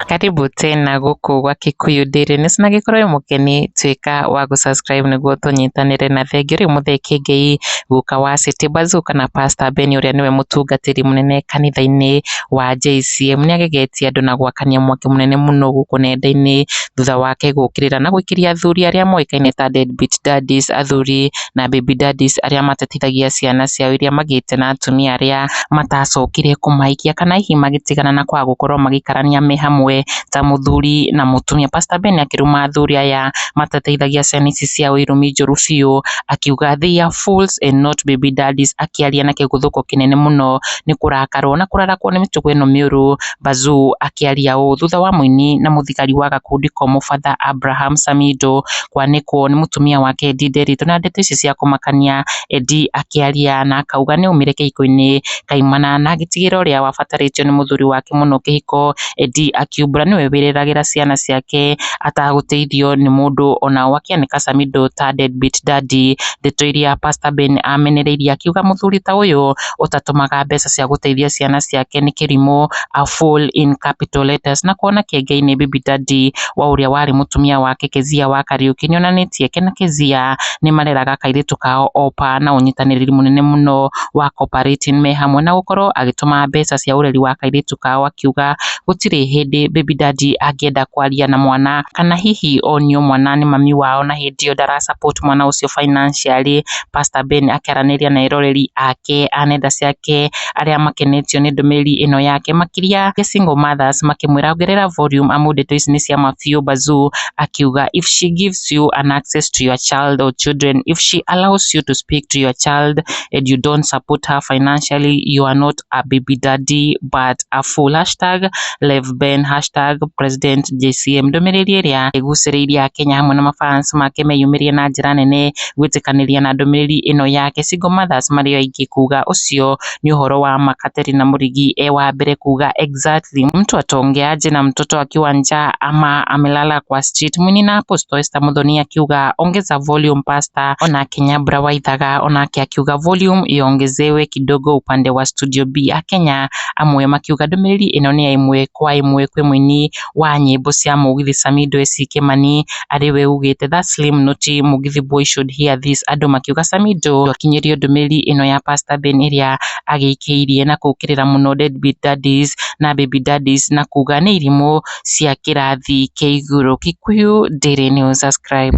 Karibu tena gũkũ gwa Kikuyu Daily News na gĩkorwo wĩ mũgeni tuĩka wa gũ subscribe nĩguo tũnyitanĩre na thengiũ rĩ Muthee Kiengei guka wa City Bazoo kana Pastor Ben ũrĩa nĩwe mũtungatĩri mũnene kanitha-inĩ wa JCM. Nĩ agegetie andũ na gwakania mwaki mũnene mũno gũkũ nenda-inĩ thutha wake gũkĩrĩra na gũikĩria athuri arĩa moĩkaine ta deadbeat daddies, athuri na baby daddies arĩa matatithagia ciana ciao iria magĩte na atumia arĩa matacokire kũmahikia kana hihi magĩtigana na kwaga gũkorwo magĩikarania me hamwe ta mũthuri na mũtumia. Pastor Ben akĩruma athuri aya matateithagia ciana ici ciao irumi njũru biũ, akiuga they are fools and not baby daddies akĩaria na kĩguthũko kĩnene mũno nĩ kũrakarwo na kũrarakwo nĩ mĩtugo ĩno mĩũru Bazũ akĩaria ũũ thutha wa mũini na mũthigari wa gakundi ko Mũbatha Abraham Samido kwanĩkwo nĩ mũtumia wake Edie Nderitu na ndeto ici cia kũmakania Edie akĩaria na akauga nĩ aumire kĩhiko-inĩ kaimana na agĩtigĩra ũrĩa wabatarĩtio nĩ mũthuri wake mũno kĩhiko Edie akiumbũra nĩwe wĩreragĩra ciana ciake atagũteithio nĩ mũndũ onao akĩanĩka Samido ta deadbeat daddy, ndeto iria Pastor Ben amenereirie akiuga mũthuri ta ũyũ ũtatũmaga mbeca cia gũteithia ciana ciake nĩ kĩrimũ a fool in capital letters na kona kĩengeinĩ bibi daddy wa ũrĩa warĩ mũtumia wake Kezia wa Kariũki nĩonanĩtie ke na Kezia nĩmareraga kairĩtu kao opa na ũnyitanĩrĩri mũnene mũno wa cooperating me hamwe na gũkorwo agĩtũma mbeca cia ũreri wa kairĩtu kao akiuga gũtirĩ hĩndĩ baby daddy angĩenda kwaria na mwana kana hihi onio mwana nĩ mami wao na hĩndĩ ĩyo ndara support mwana ũcio financially Pastor Ben akĩaranĩria na eroreri ake a nenda ciake arĩa makenetio nĩ ndũmĩrĩri ĩno yake makĩria The Single Mothers makĩmwĩra ongerera volume amu ndeto ici nĩ cia ma biũ Bazuu akiuga if she gives you an access to your child or children if she allows you to speak to your child and you don't support her financially you are not Abibidadi but a full hashtag Lev Ben hashtag President JCM ndũmĩrĩri ĩrĩa ĩgucĩrĩirie Akenya hamwe na mafans make meyumĩrie na njĩra nene gwĩtĩkanĩria na ndũmĩrĩri ĩno yake Single Mothers marĩ o aingĩ kuga ũcio nĩ ũhoro wa ma Katerina Mũrigi e wa mbere kuga exactly mtu atongeaje na mtoto akiwa njaa ama amelala kwa street mwini na Apostle Esther Muthoni akiuga ongeza volume pastor ona Kenya Bra Waithaga onake akiuga volume iongezewe kidogo upande wa Studio B ya Kenya, amwe makiuga ndũmĩrĩri ĩno nĩ ya ĩmwe kwa ĩmwe kwĩ mũini wa nyĩmbo cia mũgithi Samido SC Kĩmani, arĩ we ugĩte that slim not Mugithi boy should hear this. Andũ makiuga Samido ndwakinyĩrio ndũmĩrĩri ĩno ya Pastor Ben ĩrĩa agĩikĩirie na kũũkĩrĩra mũno deadbeat daddies na baby daddies na kuuga nĩ irimũ cia kĩrathi kĩa igũrũ. Kikuyu Daily News, subscribe.